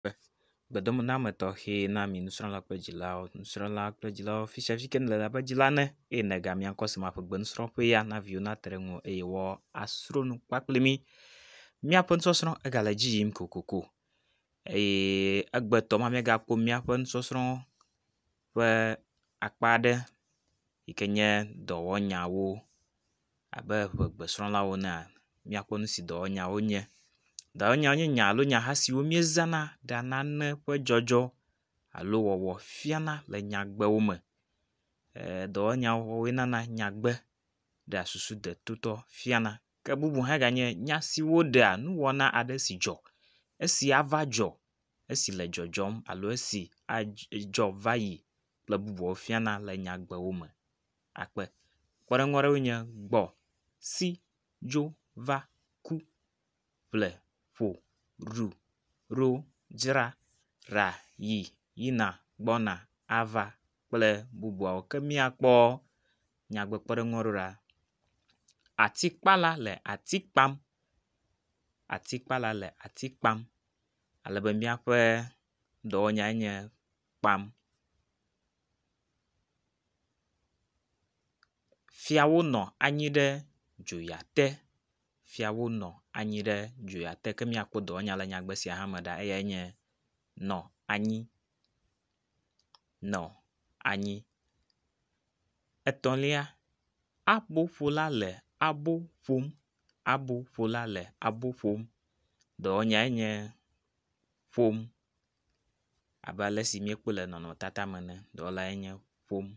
kple gbedomename tɔxe na mi nusrɔ̃la kple dzilawo. Nusrɔ̃la kple dzilawo fi sia fi ke nèle la be dzila ne eye nègamia ŋkɔ si me aƒe gbe nusrɔ̃ƒe ya na viwo nate ɖe eŋu eye woasrɔ nu kpakple mi. Míaƒe nusɔsrɔ̃ egale edzi yim kokoko eye egbetɔ ma míagakpɔ míaƒe nusɔsrɔ̃ ƒe akpa aɖe yi ke nye dɔwɔnyawo. abe ŋegbesrɔ̃lawo enea, míakpɔ nu si dɔwɔnyawo nye. Dɔwɔnyawo nye nya alo nyaha siwo míezãna ɖea nane ƒe dzɔdzɔ alo wɔwɔ fiana le nyagbewo me. Ee dɔwɔnyawo wɔwɔe nana nyagbe ɖea susu detotɔ fiana. Ke bubu hã ganye nya siwo ɖea nuwɔna aɖe si dzɔ, esi ava dzɔ, esi le dzɔdzɔm alo esi adzɔ va yi kple bubuawo fiana le nyagbewo me. akpe. Kpɔɖeŋu aɖewoe nye gbɔ, si, dzo, va, ku, ƒle, ƒo, ɖu, ɖo, dzra, ɖa, yi, yina, gbɔna, ava kple bubuawo. Ke míakpɔ nyagbekpɔɖeŋu aɖewo ɖa. Atikpala le ati kpam, atikpala le ati kpam ale be míaƒe dɔwɔnyae nye. kpam. Fiawo nɔ anyi ɖe dzoya te. Fiawo nɔ anyi ɖe dzoya te ke míakpɔ dɔwɔnya le nyagbe sia hã me ɖa eyae nye nɔ anyi nɔ anyi. Etɔ̃lia aboƒola le abo ƒom aboƒola le abo ƒom dɔwɔnyae nye ƒom. abe ale si míekpɔe le nɔnɔmetata me ene dɔwɔlae nye ƒom.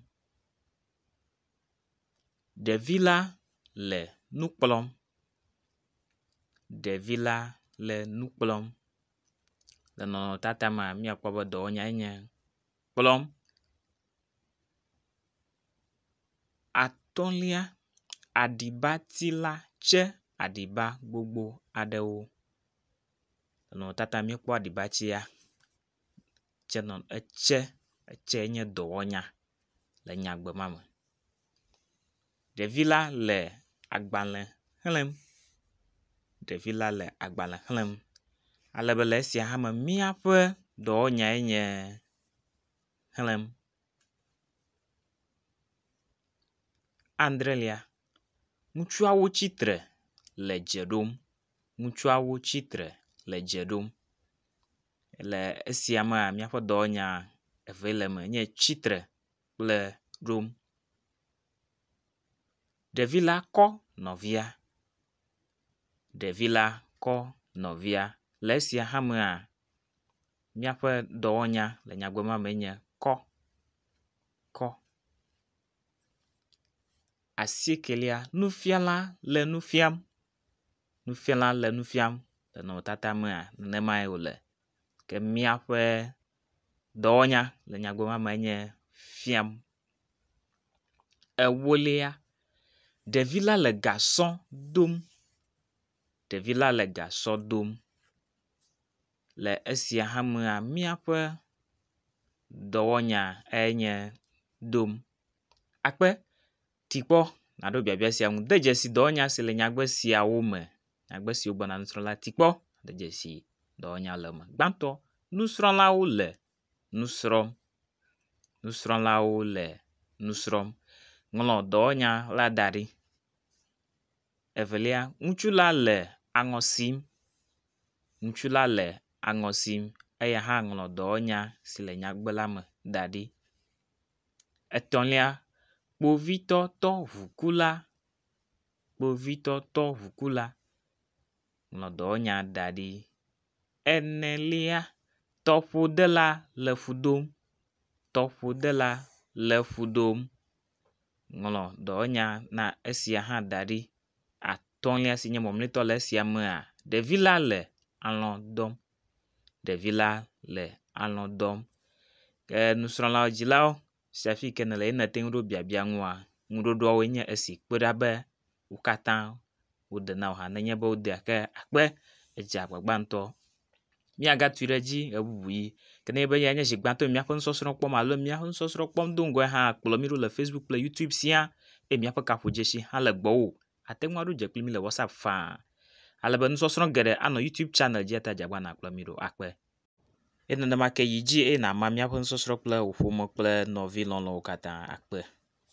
Ɖevi la le nu kplɔm. Ɖevi la le nu kplɔm. Le nɔnɔmetata mea míakpɔ be dɔwɔnyae nye kplɔm. Atɔ̃lia aɖibati la tse aɖiba gbogbo aɖewo. Nɔnɔmetata míekpɔ aɖibatsia tse nɔ etse etse nye dɔwɔnya le nyagbe ma me. Ɖevi la le agbale xlem. Ɖevi la le agbale xlem ale be le esia hã me míaƒe dɔwɔnyae nye xlem andrelia. Ŋutsuawo tsitre le dze ɖom. Ŋutsuawo tsi tre le dze ɖom. Le esia mea míaƒe dɔwɔnya evee le eme enye tsi tre kple ɖom. Ɖevi la kɔ nɔvia, ɖevi la kɔ nɔvia. Le esia hã mea míaƒe dɔwɔnya le nyagbe ma me enye kɔ kɔ. Asiekelia nufiala le nu fiam. nufiala le nu fiam le nɔnɔmetata mea, nenemae wòle. Ke míaƒe dɔwɔnya le nyagblɔɖila me enye fiam. Ewolia, ɖevila le gasɔ dom, ɖevila le gasɔ dom. Le esia hã mea, míaƒe dɔwɔnya enye dom akpe. Ti kpɔ nàɖo biabia sia ŋu. De dzesi dɔwɔnya si le nyagbe siawo me. Nyagbe siwo gbɔna nusrɔ̃ la, ti kpɔ. De dzesi dɔwɔnya le eme. Gbãtɔ, nusrɔ̃lawo le nu srɔ̃m. Nusrɔ̃lawo le nu srɔ̃m. Ŋlɔ dɔwɔnya la da ɖi. Evelia, ŋutsu la le aŋɔ sim. Ŋutsu la le aŋɔ sim. Eya hã ŋlɔ dɔwɔnya si le nyagbe la me da ɖi. Etɔ̃lia, kpovitɔ tɔ ŋukula, kpovitɔ tɔ ŋukula nɔ dɔwɔnya da ɖi. Enelia, tɔƒodela le fu dom, tɔƒodela le fu dom ŋlɔ dɔwɔnya na esia hã da ɖi. Atɔ̃lia si nye mɔmlɔtɔ le esia mea ɖevi la le alɔ dɔm. ɖevi la le alɔ dɔm ke nusrɔ̃la dzilawo sia afi yi ke nele ye nate ŋu ɖo biabia nua ŋuɖoɖoawoe nye esi kpe ɖa be wo katã wode na o hã nenye be wodea ke akpe edzea agbagba ŋutɔ. Míagatui ɖe edzi ʋeʋiʋi ke ne enye be yae nye zi gbãtɔ le míaƒe nusɔsrɔ̃ kpɔm alo míaƒe nusɔsrɔ̃ kpɔm do ŋgɔe hã kplɔ mí ɖo le fasibuku kple yutub sia eye míaƒe gaƒodzesi hã le gbɔwò. Àte ŋu aɖo dze kple mí le WhatsApp faa ale be nusɔsrɔ̃ geɖe anɔ YouTube chanel dzi eya ta dze agbagba nàkplɔ mí ɖo akpe. Eye nenema ke yi dzi eye nàma míaƒe nusɔsrɔ̃ kple wò ƒome kple nɔvi lɔlɔ̃wo katã akpe.